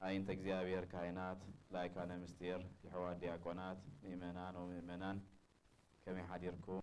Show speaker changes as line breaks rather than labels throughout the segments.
ኣይንት እግዚኣብሔር ካህናት ላይካነ ምስጢር የሕዋት ዲያቆናት ምእመናን ወምእመናን ከመይ ሓዲርኩም።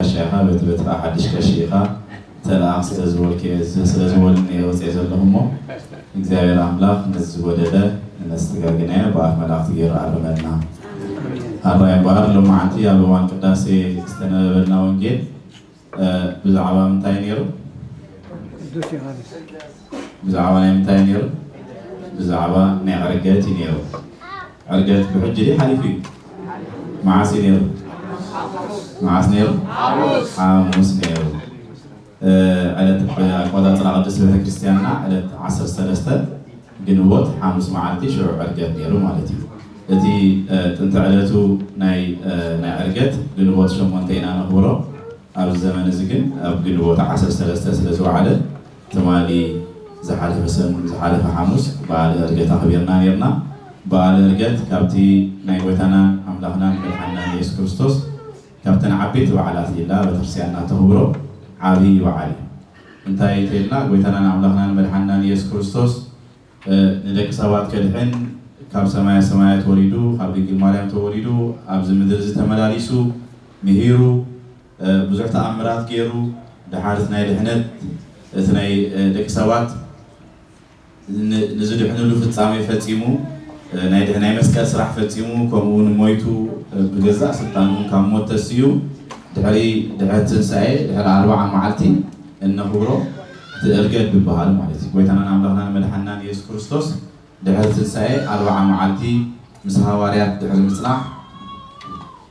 ጋሻ ኢኻ በቲ በትሪ ሓድሽ ቀሺ ኢኻ ተልኣኽ ስለ ዝበልክዮ ስለ ዝበሉኒ እየ ወጺኤ ዘለኹ እሞ እግዚኣብሔር ኣምላኽ ነዚ ዝጎደለ እነስተጋግናዮ ብኣፍ መላእኽቲ ገይሩ ኣርመልና ኣሜን። ኣራይ እምበኣር ሎማዓንቲ ኣብ እዋን ቅዳሴ ዝተነበበልና ወንጌል ብዛዕባ ምንታይ ነይሩ? ቅዱስ ዮሃንስ። ብዛዕባ ናይ ምንታይ ነይሩ? ብዛዕባ ናይ ዕርገት እዩ ነይሩ። ዕርገት ብሕጂ ድዩ ሓሊፉ እዩ? መዓስ እዩ ነይሩ? መዓስ ነይሩ? ሓሙስ ነይሩ። ዕለት ኣቆፃፅራ ቅድስት ቤተክርስትያንና ዕለት ዓሰርተ ሰለስተ ግንቦት ሓሙስ መዓልቲ ሽዑ ዕርገት ነይሩ ማለት እዩ። እቲ ጥንቲ ዕለቱ ናይ ናይ ዕርገት ግንቦት ሸሞንተ ኢና ነኽብሮ። ኣብዚ ዘመን እዚ ግን ኣብ ግንቦት ዓሰርተ ሰለስተ ስለ ዝወዓለ ትማሊ ዝሓለፈ ሰኑን ዝሓለፈ ሓሙስ በዓለ ዕርገት ኣኽቢርና ነይርና። በዓለ ዕርገት ካብቲ ናይ ጎይታናን ኣምላኽናን መድሓኒናን የሱስ ክርስቶስ ካብተን ዓበይቲ በዓላት ኢላ ቤተክርስቲያንና እተኽብሮ ዓብዪ በዓል እዩ። እንታይ እንተኢልና ጎይታናን ኣምላኽናን መድሓንናን ኢየሱስ ክርስቶስ ንደቂ ሰባት ከድሕን ካብ ሰማያ ሰማያት ወሪዱ ካብ ድንግል ማርያም ተወሊዱ ኣብዚ ምድሪ እዚ ተመላሊሱ ምሂሩ ብዙሕ ተኣምራት ገይሩ ደሓር እቲ ናይ ድሕነት እቲ ናይ ደቂ ሰባት ንዝድሕንሉ ፍጻሜ ፈጺሙ፣ ናይ ናይ መስቀል ስራሕ ፈጺሙ፣ ከምኡውን ሞይቱ ብገዛእ ስልጣኑ ካብ ሞት ተሲኡ፣ ድሕሪ ድሕሪ ትንሳኤ ድሕሪ ኣርብዓ መዓልቲ እነኽብሮ እቲ እርገት ዝበሃል ማለት እዩ። ጎይታናን ኣምላኽናን መድሓኒናን ኢየሱስ ክርስቶስ ድሕሪ ትንሳኤ ኣርብዓ መዓልቲ ምስ ሃዋርያት ድሕሪ ምጽናሕ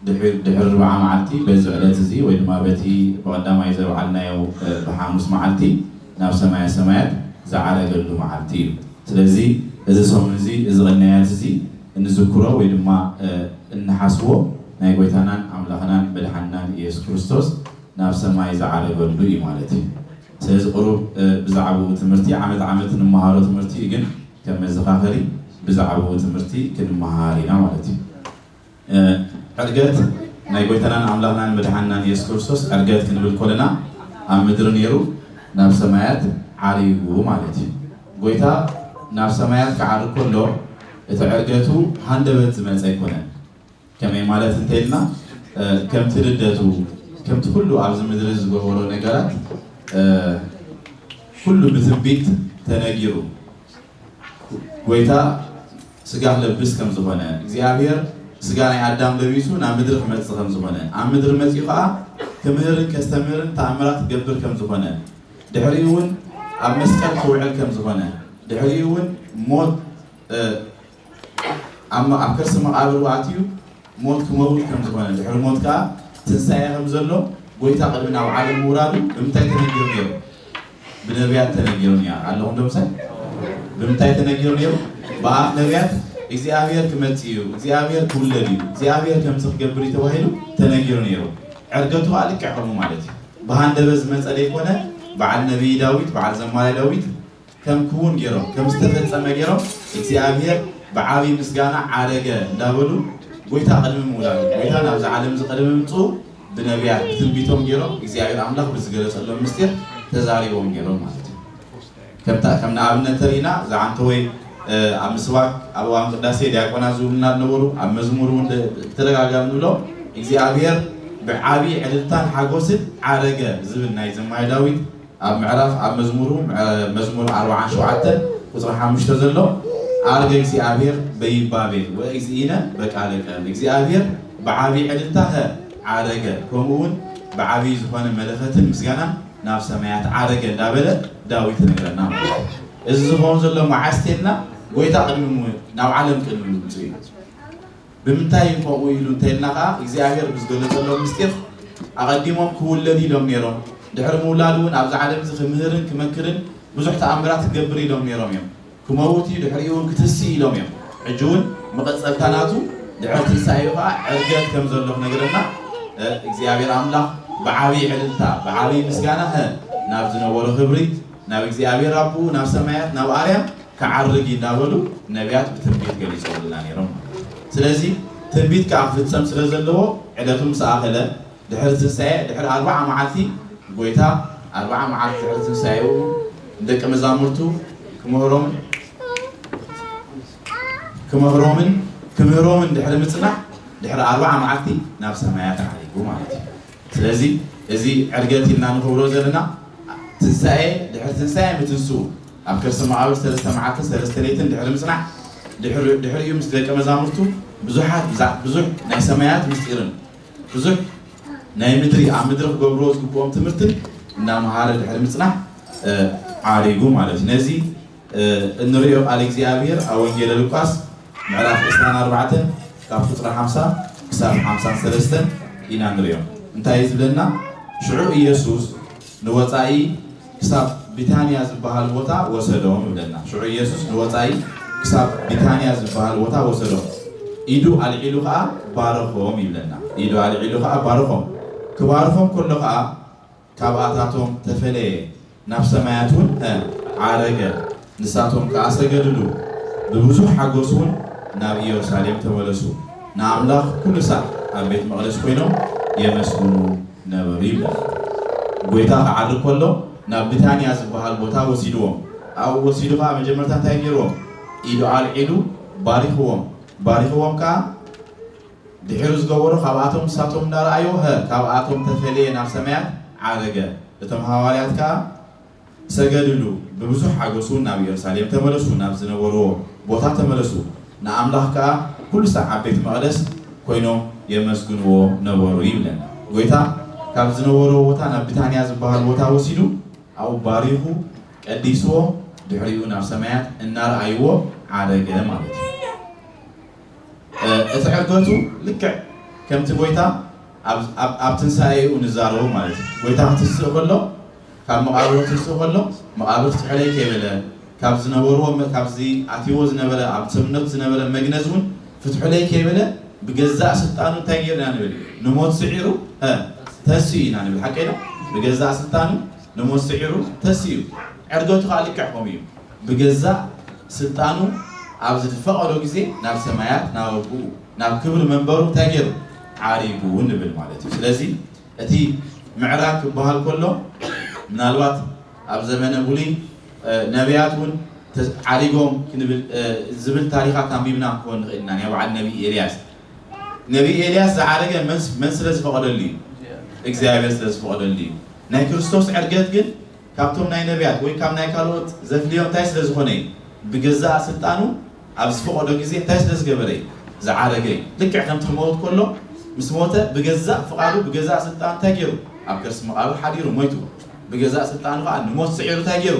ድሕሪ ድሕሪ ርብዓ መዓልቲ በዚ ዕለት እዚ ወይ ድማ በቲ ብቐዳማይ ዘብዓልናዮ ብሓሙስ መዓልቲ ናብ ሰማየ ሰማያት ዝዓረገሉ መዓልቲ እዩ። ስለዚ እዚ ሰሙን እዚ እዚ ቅንያት እዚ እንዝክሮ ወይ ድማ እንሓስቦ ናይ ጎይታናን ኣምላኽናን መድሓኒናን ኢየሱስ ክርስቶስ ናብ ሰማይ ዝዓረገሉ እዩ ማለት እዩ። ስለዚ ቅሩብ ብዛዕብኡ ትምህርቲ ዓመት ዓመት እንመሃሮ ትምህርቲ እዩ ግን ከም መዘኻኸሪ ብዛዕብኡ ትምህርቲ ክንመሃር ኢና ማለት እዩ። ዕርገት ናይ ጎይታናን ኣምላኽናን መድሓንናን ኢየሱስ ክርስቶስ ዕርገት ክንብል ኮለና ኣብ ምድሪ ኔሩ ናብ ሰማያት ዓሪጉ ማለት እዩ። ጎይታ ናብ ሰማያት ክዓርግ ኮሎ እቲ ዕርገቱ ሃንደበት ዝመጸ ኣይኮነን። ከመይ ማለት እንተይልና ከምቲ ልደቱ ከምቲ ኩሉ ኣብዚ ምድሪ ዝገበሮ ነገራት ኩሉ ብትንቢት ተነጊሩ ጎይታ ስጋ ክለብስ ከም ዝኮነ እግዚኣብሔር ስጋ ናይ ኣዳም ለቢሱ ናብ ምድሪ ክመጽእ ከም ዝኮነ ኣብ ምድሪ መጺኡ ከኣ ክምህርን ከስተምህርን ተኣምራት ክገብር ከም ዝኮነ ድሕሪኡ ውን ኣብ መስቀል ክውዕል ከም ዝኮነ ድሕሪኡ ውን ሞት ኣብ ከርሲ መቃብሩ ኣትዩ ሞት ክመውት ከም ዝኾነን ድሕሪ ሞት ከኣ ትንሳኤ ከም ዘሎ ጎይታ ቅድሚ ናብ ዓለም ምውራዱ ብምንታይ ተነጊሩ ነይሩ? ብነብያት ተነጊሩ ኔ ኣለኹም ዶ ምሳይ? ብምንታይ ተነጊሩ ነይሩ? ብኣፍ ነብያት እግዚኣብሄር ክመጽእ እዩ፣ እግዚኣብሄር ክውለድ እዩ፣ እግዚኣብሄር ከምዚ ክገብር እዩ ተባሂሉ ተነጊሩ ነይሩ። ዕርገቱ ከኣ ልክዕ ከምኡ ማለት እዩ። ብሃንደበት ዝመጸ ደይኮነ፣ በዓል ነብዪ ዳዊት፣ በዓል ዘማሪ ዳዊት፣ ከም ክዉን ገይሮም ከም ዝተፈጸመ ገይሮም እግዚኣብሔር ብዓቢይ ምስጋና ዓረገ እንዳበሉ ጎይታ ቅድሚ ምውላዱ ጎይታ ናብዛ ዓለምዚ ቅድሚ ምምጽኡ ብነብያት ብትንቢቶም ገይሮም እግዚኣብሔር ኣምላኽ ብዝገለጸሎም ምስጢር ተዛሪቦም ነይሮም ማለት እዩ። ከምታ ከም ንኣብነት ተሪእና ዝዓንተወይ ኣብ ምስባክ ኣብ እዋን ቅዳሴ ዲያቆናት ዝብሉና ነበሩ ኣብ መዝሙር እውን ብተደጋጋሚ ንብሎም እግዚኣብሔር ብዓቢይ ዕልልታን ሓጎስን ዓረገ ዝብል ናይ ዘማሪ ዳዊት ኣብ ምዕራፍ ኣብ መዝሙሩ መዝሙር ኣርብዓን ሸውዓተን ቁጽሪ ሓሙሽተ ዘሎ ኣርገ እግዚኣብሔር በይባቤል ወእግዚእነ በቃለ ቀርኒ እግዚኣብሔር ብዓቢ ዕልልታ ከ ዓረገ ከምኡ ውን ብዓቢ ዝኾነ መለኸትን ምስጋናን ናብ ሰማያት ዓረገ እንዳበለ ዳዊት ነገረና ማለት እዩ እዚ ዝኸውን ዘሎ መዓስ ቴልና ጎይታ ቅድሚ ናብ ዓለም ቅድሚ ምምጽኡ እዩ ብምንታይ እዩ ከምኡ ኢሉ እንተይልና ከኣ እግዚኣብሔር ብዝገለጸሎም ምስጢር ኣቐዲሞም ክውለድ ኢሎም ነይሮም ድሕሪ ምውላዱ እውን ኣብዚ ዓለም እዚ ክምህርን ክመክርን ብዙሕ ተኣምራት ክገብር ኢሎም ነይሮም እዮም ክመውት እዩ ድሕሪኡ እውን ክትስእ ኢሎም እዮም ሕጂ እውን መቐጸልታ ናቱ ድሕሪ ትንሳኤኡ ከኣ ዕርገት ከም ዘሎ ክነግረና እግዚኣብሔር ኣምላኽ ብዓብይ ዕልልታ ብዓብይ ምስጋና ናብ ዝነበሮ ክብሪ ናብ እግዚኣብሔር ኣቦኡ ናብ ሰማያት ናብ ኣርያም ክዓርግ እዩ እንዳበሉ ነብያት ብትንቢት ገሊጾምልና ኔሮም ማለት እዩ። ስለዚ ትንቢት ከኣ ክፍጸም ስለ ዘለዎ ዕለቱ ምስ ኣኸለ ድሕሪ ትንሳኤ ድሕሪ ኣርብዓ መዓልቲ ጎይታ ኣርብዓ መዓልቲ ድሕሪ ትንሳኤኡ ንደቀ መዛሙርቱ ክምህሮምን ክመህሮምን ክምህሮምን ድሕሪ ምጽናሕ ድሕሪ ኣርብዓ መዓልቲ ናብ ሰማያት ዓሪጉ ማለት እዩ። ስለዚ እዚ ዕርገት ኢልና ንኽብሮ ዘለና ትንሳኤ ድሕሪ ትንሳኤ ምትንስኡ ኣብ ከርሰ መቓብር ሰለስተ መዓልትን ሰለስተ ለይትን ድሕሪ ምጽናሕ፣ ድሕሪ ድሕሪኡ ምስ ደቀ መዛሙርቱ ብዙሓት ብዛዕ ብዙሕ ናይ ሰማያት ምስጢርን ብዙሕ ናይ ምድሪ ኣብ ምድሪ ክገብርዎ ዝግብኦም ትምህርትን እናመሃረ ድሕሪ ምጽናሕ ዓሪጉ ማለት እዩ። ነዚ እንርእዮ ቃል እግዚኣብሔር ኣብ ወንጌለ ሉቃስ ምዕራፍ ዕስራን ኣርባዕተን ካብ ቁጽሪ ሓምሳ ክሳብ ሓምሳን ሰለስተን ኢና ንርእዮ። እንታይ እዩ ዝብለና? ሽዑ ኢየሱስ ንወጻኢ ክሳብ ቢታንያ ዝበሃል ቦታ ወሰዶም ይብለና። ሽዑ ኢየሱስ ንወጻኢ ክሳብ ቢታንያ ዝበሃል ቦታ ወሰዶም፣ ኢዱ ኣልዒሉ ኸኣ ባረኾም ይብለና። ኢዱ ኣልዒሉ ኸኣ ባረኾም። ክባርኾም ከሎ ኸኣ ካብኣታቶም ተፈለየ፣ ናብ ሰማያት ውን ዓረገ፣ ንሳቶም ከኣ ሰገድሉ። ብብዙሕ ሓጎስ ውን ናብ ኢየሩሳሌም ተመለሱ፣ ንኣምላኽ ኩሉ ሳዕ ኣብ ቤት መቕደስ ኮይኖም የመስግኑ። ነበሩ ይብላል። ጎይታ ክዓርግ ከሎ ናብ ብታንያ ዝበሃል ቦታ ወሲድዎም። ኣብኡ ወሲዱ ከኣ መጀመርታ እንታይ ገይርዎም? ኢዱ ኣልዒሉ ባሪኽዎም። ባሪኽዎም ከኣ ድሒሩ ዝገበሮ ካብኣቶም ንሳቶም እንዳረኣይዎ ሀ ካብኣቶም ተፈልየ ናብ ሰማያት ዓረገ። እቶም ሃዋርያት ከኣ ሰገድሉ፣ ብብዙሕ ሓጐስ እውን ናብ ኢየሩሳሌም ተመለሱ፣ ናብ ዝነበርዎ ቦታ ተመለሱ፣ ንኣምላኽ ከኣ ኵሉ ሳዕ ኣብ ቤት መቕደስ ኰይኖም የመስግንዎ ነበሩ ይብለና። ጐይታ ካብ ዝነበርዎ ቦታ ናብ ብታንያ ዝበሃል ቦታ ወሲዱ ኣብኡ ባሪኹ ቀዲስዎ ድሕሪኡ ናብ ሰማያት እናርኣይዎ ዓረገ ማለት እዩ። እቲ ዕርገቱ ልክዕ ከምቲ ጐይታ ኣብ ኣብ ትንሳኤኡ ንዛረቦ ማለት እዩ ጎይታ ክትስእ ከሎ ካብ መቃብር ክትስእ ከሎ መቃብር ፍትሑለይ ከይበለ ካብ ዝነበርዎ ካብዚ ኣትይዎ ዝነበረ ኣብ ሰብነቱ ዝነበረ መግነዝ እውን ፍትሑለይ ከይበለ ብገዛእ ስልጣኑ እንታይ ገይሩ ኢና ንብል ንሞት ስዒሩ ተስኡ ኢና ንብል ሓቀይ ዶ ብገዛእ ስልጣኑ ንሞት ስዒሩ ተስኡ ዕርገቱ ከዓ ልክዕ ከምኡ እዩ ብገዛእ ስልጣኑ ኣብ ዝፈቀዶ ግዜ ናብ ሰማያት ናብ ኣቡኡ ናብ ክብሪ መንበሩ እንታይ ገይሩ? ዓሪጉ ንብል ማለት እዩ። ስለዚ እቲ ምዕራግ ክበሃል ከሎ ምናልባት ኣብ ዘመነ ብሉይ ነብያት እውን ዓሪጎም ዝብል ታሪኻት ኣንቢብና ክንከውን ንኽእል ኢና። ናይ በዓል ነቢይ ኤልያስ ነቢይ ኤልያስ ዝዓረገ መን ስለ ዝፈቐደሉ እዩ? እግዚኣብሔር ስለ ዝፈቐደሉ እዩ። ናይ ክርስቶስ ዕርገት ግን ካብቶም ናይ ነብያት ወይ ካብ ናይ ካልኦት ዘፍልዮ እንታይ ስለ ዝኾነ እዩ? ብገዛእ ስልጣኑ ኣብ ዝፈቐዶ ግዜ እንታይ ስለ ዝገበረ እዩ ዝዓረገ እዩ? ልክዕ ከምቲ ክመውት ከሎ ምስ ሞተ ብገዛእ ፍቓዱ ብገዛእ ስልጣኑ እንታይ ገይሩ? ኣብ ከርሲ መቓብር ሓዲሩ ሞይቱ። ብገዛእ ስልጣኑ ኸኣ ንሞት ስዒሩ እንታይ ገይሩ?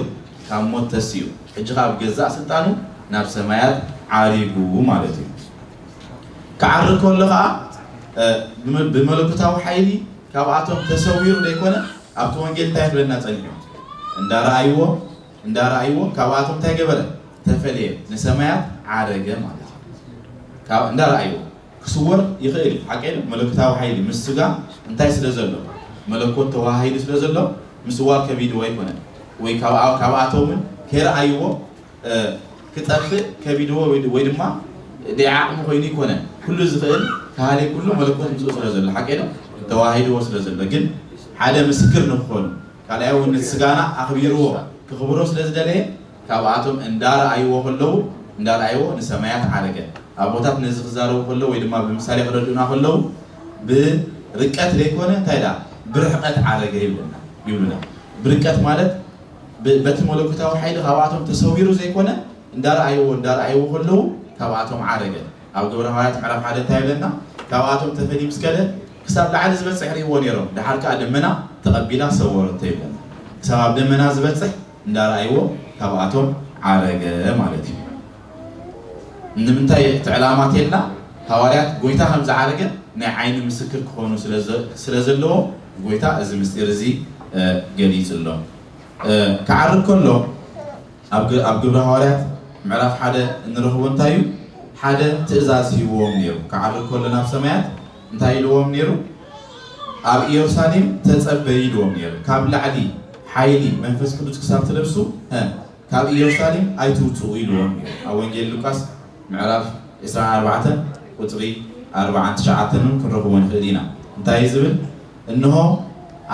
ካብ ሞት ተሲኡ። ሕጂ ኸኣ ብገዛእ ስልጣኑ ናብ ሰማያት ዓሪጉ ማለት እዩ። ክዓርግ ከሎ ኸኣ ብ ብመለኮታዊ ሓይሊ ካብኣቶም ተሰዊሩ ዘይኮነ ኣብቲ ወንጌል እንታይ ክብለና ጸኒሑ? እንዳ ረኣይዎ፣ እንዳ ራኣይዎ ካብኣቶም እንታይ ገበረ ተፈለየ ንሰማያት ዓረገ ማለት እዩ ካብ እንዳ ራኣይዎ ክስወር ይኽእል እዩ ሓቂ መለኮታዊ ሓይሊ ምስ ስጋ እንታይ ስለ ዘሎ መለኮት ተዋሃሂዱ ስለ ዘሎ ምስዋር ከቢድዎ ኣይኮነን ወይ ካብኣቶምን ከይረኣይዎ ክጠፍእ ከቢድዎ ወይ ድማ ደይዓቕሚ ኮይኑ ይኮነ ኩሉ ዝኽእል ካህሊ ኩሉ መለኮት ምስኡ ስለ ዘሎ ሓቂ ተዋሂድዎ ስለ ዘሎ ግን ሓደ ምስክር ንክኾኑ ካልኣይ እውን ነቲ ስጋና ኣኽቢርዎ ክኽብሮ ስለ ዝደለየ ካብኣቶም እንዳረኣይዎ ከለዉ እንዳረኣይዎ ንሰማያት ዓረገ። ኣቦታት ነዚ ክዛረቡ ከለዉ ወይ ድማ ብምሳሌ ክረድኡና ከለዉ ብርቀት ዘይኮነ እንታይ ድኣ ብርሕቀት ዓረገ ይብለና ይብሉና ብርቀት ማለት በቲ መለኮታዊ ሓይሊ ካብኣቶም ተሰዊሩ ዘይኮነ እንዳረኣይዎ እንዳረኣይዎ ከለዉ ካብኣቶም ዓረገ። ኣብ ግብረ ሃዋርያት ምዕራፍ ሓደ እንታይ ይብለና ካብኣቶም ተፈልዩ ምስ ከደ ክሳብ ላዕሊ ዝበጽሕ ርእይዎ ነይሮም ደሓር ከኣ ደመና ተቐቢላ ሰወረቶ ይብለና ክሳብ ኣብ ደመና ዝበጽሕ እንዳረኣይዎ ካብኣቶም ዓረገ ማለት እዩ ንምንታይ እቲ ዕላማ ቴልና ሃዋርያት ጎይታ ከም ዝዓረገ ናይ ዓይኒ ምስክር ክኾኑ ስለ ዘለዎም ጎይታ እዚ ምስጢር እዚ ገሊጽሎም ክዓርግ ከሎ ኣብ ግብረ ሃዋርያት ምዕራፍ ሓደ እንረኽቦ እንታይ እዩ ሓደ ትእዛዝ ሂብዎም ነይሩ ክዓርግ ከሎ ናብ ሰማያት እንታይ ኢልዎም ነይሩ? ኣብ ኢየሩሳሌም ተጸበዩ ኢልዎም ነይሩ። ካብ ላዕሊ ሓይሊ መንፈስ ቅዱስ ክሳብ ትለብሱ እ ካብ ኢየሩሳሌም ኣይትውጽኡ ኢልዎም ነይሩ። ኣብ ወንጌል ሉቃስ ምዕራፍ ዕስራን ኣርባዕተን ቁጽሪ ኣርባዓን ትሽዓተን እውን ክንረኽቦ ንኽእል ኢና። እንታይ እዩ ዝብል? እንሆ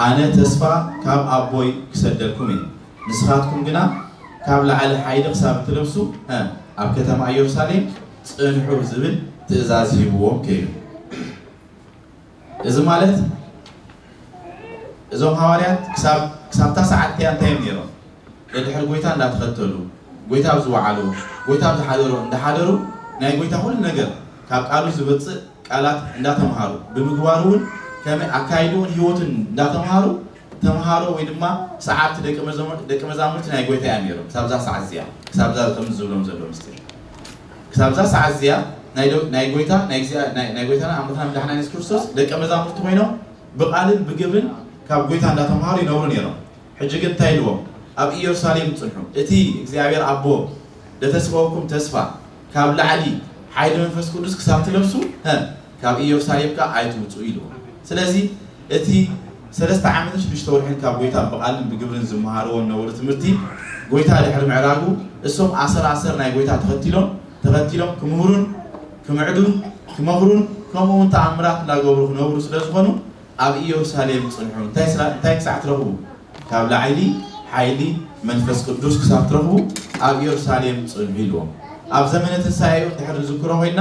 ኣነ ተስፋ ካብ ኣቦይ ክሰደኩም እየ፣ ንስኻትኩም ግና ካብ ላዕሊ ሓይሊ ክሳብ እትለብሱ እ ኣብ ከተማ ኢየሩሳሌም ጽንሑ ዝብል ትእዛዝ ሂብዎም ከይዱ። እዚ ማለት እዞም ሃዋርያት ክሳብ ክሳብታ ሰዓት እቲኣ እንታይ እዮም ነይሮም? ደድሕሪ ጎይታ እንዳተኸተሉ፣ ጎይታ ኣብ ዝወዓሎ፣ ጎይታ ኣብ ዝሓደሮ እንዳሓደሩ ናይ ጎይታ ኩሉ ነገር ካብ ቃሉ ዝወጽእ ቃላት እንዳተምሃሩ ብምግባሩውን ከመይ ኣካይድኡን ህይወቱን እንዳተምሃሩ ተምሃሮ ወይ ድማ ሰዓብቲ ደቂ መዘሙር ደቂ መዛሙርቲ ናይ ጎይታ እዮም ነይሮም ክሳብዛ ሰዓት እዚኣ ክሳብዛ ከምዚ ዝብሎም ዘሎ ምስጢር ክሳብዛ ሰዓት እዚኣ ናይ ደ- ናይ ጎይታ ናይ እግዚኣ- ናይ- ናይ ጎይታና ኣምላኽና መድሓና የሱስ ክርስቶስ ደቂ መዛሙርቲ ኮይኖም ብቃልን ብግብርን ካብ ጎይታ እንዳተምሃሩ ይነብሩ ነይሮም ሕጂ ግን እንታይ ኢልዎም ኣብ ኢየሩሳሌም ጽንሑ እቲ እግዚኣብሔር ኣቦ ደተስበወኩም ተስፋ ካብ ላዕሊ ሓይሊ መንፈስ ቅዱስ ክሳብ ትለብሱ ሀ ካብ ኢዮርሳሌም ከኣ ኣይትውጽኡ ኢልዎም። ስለዚ እቲ ሰለስተ ዓመትን ሽዱሽተ ወርሕን ካብ ጐይታ ብቓልን ብግብርን ዝመሃርዎ እነበሩ ትምህርቲ ጐይታ ድሕሪ ምዕራጉ እሶም ኣሰር ኣሰር ናይ ጐይታ ተኸቲሎም ተኸቲሎም ክምህሩን ክምዕዱን ክመኽሩን ከምኡውን ተኣምራት እንዳገብሩ ክነብሩ ስለ ዝኾኑ ኣብ ኢዮርሳሌም ጽንሑ እንታይ እንታይ ክሳዕ ትረኽቡ ካብ ላዕሊ ሓይሊ መንፈስ ቅዱስ ክሳብ ትረኽቡ ኣብ ኢዮርሳሌም ጽንሑ ኢልዎም። ኣብ ዘመነ ትንሳኤኡ እንድሕር ንዝክሮ ኮይንና፣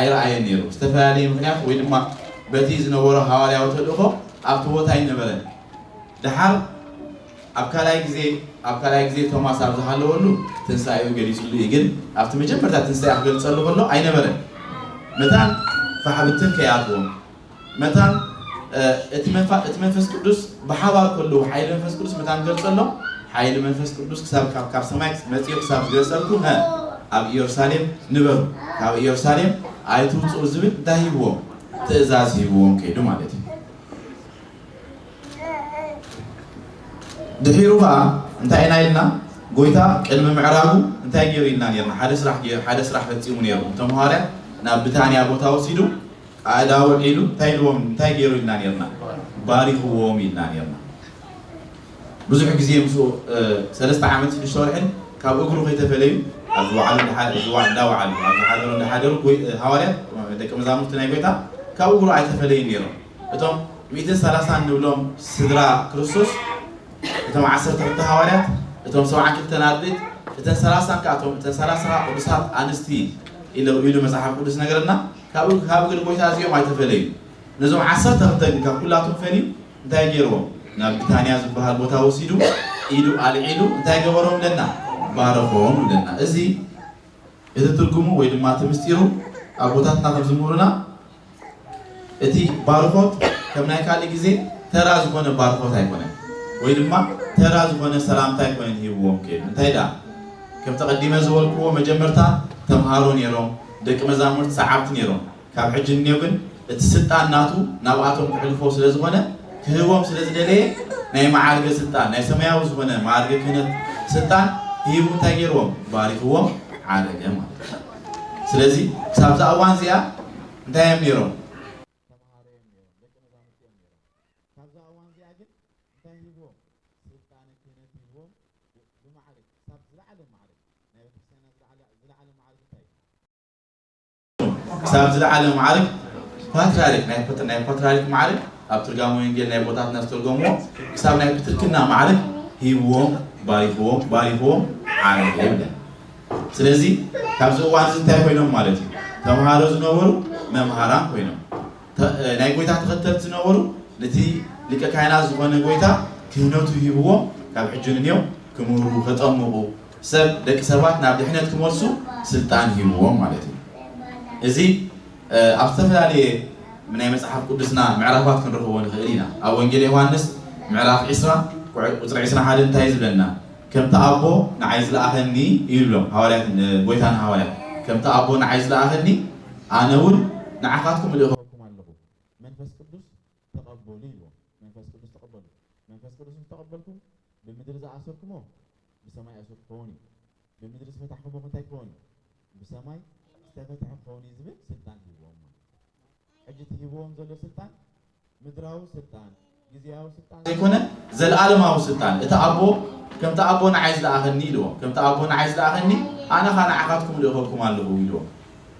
ኣይረኣየን ነይሩ። ብዝተፈላለየ ምኽንያት ወይ ድማ በቲ ዝነበሮ ሃዋርያዊ ተልእኾ ኣብቲ ቦታ ኣይነበረን። ደሓር ኣብ ካልኣይ ግዜ ኣብ ካልኣይ ግዜ ቶማስ ኣብ ዝሃለወሉ ትንሳኤኡ ገሊጽሉ እዩ ግን ኣብቲ መጀመርታ ትንሳኤ ክገልጸሉ ከሎ ኣይነበረን። መታን ፋሕ ብትን ከይኣትዎም። መታን እቲ መንፋ እቲ መንፈስ ቅዱስ ብሓባር ከለዉ ሓይሊ መንፈስ ቅዱስ መታን ገልጸሎም ሓይሊ መንፈስ ቅዱስ ክሳብ ካብ ካብ ሰማይ መጺኡ ክሳብ ዝገልጸልኩም ሀ ኣብ ኢየሩሳሌም ንበሩ ካብ ኢየሩሳሌም ኣይትውጽኡ ዝብል እንታይ ሂብዎም ትእዛዝ ሂብዎም ከይዱ ማለት እዩ ድሒሩ ከዓ እንታይ ኢና ኢልና ጎይታ ቅድሚ ምዕራቡ እንታይ ገይሩ ኢልና ነርና ሓደ ስራሕ ገይሩ ሓደ ስራሕ ፈጺሙ ነይሩ እቶም ሃዋርያት ናብ ብታንያ ቦታ ወሲዱ ቃእዳ ውዒሉ እንታይ ኢልዎም እንታይ ገይሩ ኢልና ኔርና ባሪኽዎም ኢልና ኔርና ብዙሕ ግዜ ምስኡ ሰለስተ ዓመት ሽዱሽተ ወርሕን ካብ እግሩ ከይተፈለዩ ኣብ ዝወዓሉ እንዳወዓሉ ኣብ ዝሓደሩ እንዳሓደሩ ሃዋርያት ደቂ መዛሙርቲ ናይ ጎይታ ካብ እግሩ ኣይተፈለዩን ኔሮም እቶም ሚእትን ሰላሳን ንብሎም ስድራ ክርስቶስ እቶም ዓሰርተ ክልተ ሃዋርያት እቶም ሰብዓን ክልተን ኣርድእት እተን ሰላሳን ከኣ እተን ሰላሳ ቅዱሳት ኣንስቲ ኢሉ መጽሓፍ ቅዱስ ነገረና ካብ ካብ እግሪ ጎይታ እዚኦም ኣይተፈለዩን። ነዞም ዓሰርተ ክልተ ግን ካብ ኩላቶም ፈልዩ እንታይ ገይርዎም? ናብ ብታንያ ዝበሃል ቦታ ወሲዱ ኢዱ ኣልዒሉ እንታይ ገበሮም እለና? ባረኾም እለና። እዚ እቲ ትርጉሙ ወይ ድማ እቲ ምስጢሩ ኣቦታትና ከም ዝምህሩና እቲ ባርኾት ከም ናይ ካልእ ግዜ ተራ ዝኾነ ባርኾት ኣይኮነን ወይ ድማ ተራ ዝኾነ ሰላምታ ኣይኮነን ሂብዎም ከይዱ። እንታይ ደኣ ከም ተቐዲመ ዝበልክዎ መጀመርታ ተምሃሮ ነይሮም፣ ደቂ መዛሙርቲ ሰዓብቲ ኔሮም ካብ ሕጂ ንኔው ግን እቲ ስልጣን ናቱ ናብኣቶም ክሕልፎ ስለ ዝኾነ ክህቦም ስለ ዝደለየ ናይ መዓርገ ስልጣን ናይ ሰማያዊ ዝኾነ መኣርገ ክህነት ስልጣን ሂቡ እንታይ ጌርዎም ባሪኽዎም ዓረገ ማለት እዩ ስለዚ ክሳብዛ እዋን እዚኣ እንታይ እዮም ኔሮም ክሳብ ዝለዓለ መዓርግ ፓትርያርክ ናይ ፓት- ናይ ፓትርያርክ መዓርግ ኣብ ትርጋመ ወንጌል ናይ ቦታትና ዝተርጎምዎ ክሳብ ናይ ፕትርክና መዓርግ ሂብዎም ባሪኽዎም ባሪኽዎም ዓረገ ይብለን ስለዚ ካብዚ እዋን እዚ እንታይ ኮይኖም ማለት እዩ ተምሃሮ ዝነበሩ መምሃራን ኮይኖም ተ- እ፣ ናይ ጎይታ ተኸተልቲ ዝነበሩ ነቲ ሊቀ ካህናት ዝኾነ ጎይታ ክህነቱ ሂብዎም ካብ ሕጂ ንንዮም ክምህሩ ከጠምቑ ሰብ ደቂ ሰባት ናብ ድሕነት ክመልሱ ስልጣን ሂብዎም ማለት እዩ። እዚ ኣብ ዝተፈላለየ ናይ መጽሓፍ ቅዱስና ምዕራፋት ክንረኽቦ ንኽእል ኢና። ኣብ ወንጌል ዮሃንስ ምዕራፍ ዕስራ ቁጽሪ ዕስራን ሓደን እንታይ እዩ ዝብለና? ከምቲ ኣቦ ንዓይ ዝለኣኸኒ እዩ ዝብሎም ሃዋርያት ጎይታ ንሃዋርያት ከምቲ ኣቦ ንዓይ ዝለኣኸኒ ኣነ እውን ንዓኻትኩም እልእኸኩም ኣለኹ። መንፈስ ቅዱስ ተቐበሉ ኢልዎም። መንፈስ ቅዱስ ተቐበሉ። መንፈስ ቅዱስ ምስ ተቐበልኩም፣ ብምድሪ ዝኣሰርኩሞ ብሰማይ እሱር ክኸውን እዩ፣ ብምድሪ ዝፈታሕኩሞ ከ እንታይ ክኸውን እዩ? ብሰማይ ዝተፈትሐ ክኸውን እዩ ዝብል ስልጣን ሂብዎም ማለት እዩ። ሕጂ እቲ ሂብዎም ዘሎ ስልጣን ምድራዊ ስልጣን፣ ግዝያዊ ስልጣን ዘይኮነ ዘለኣለማዊ ስልጣን እዩ። እቲ ኣቦ ከምቲ ኣቦ ንዓይ ዝለኣኸኒ ኢልዎም። ከምቲ ኣቦ ንዓይ ዝለኣኸኒ ኣነ ከኣ ንዓኻትኩም እልእኸኩም ኣለኹ ኢልዎም።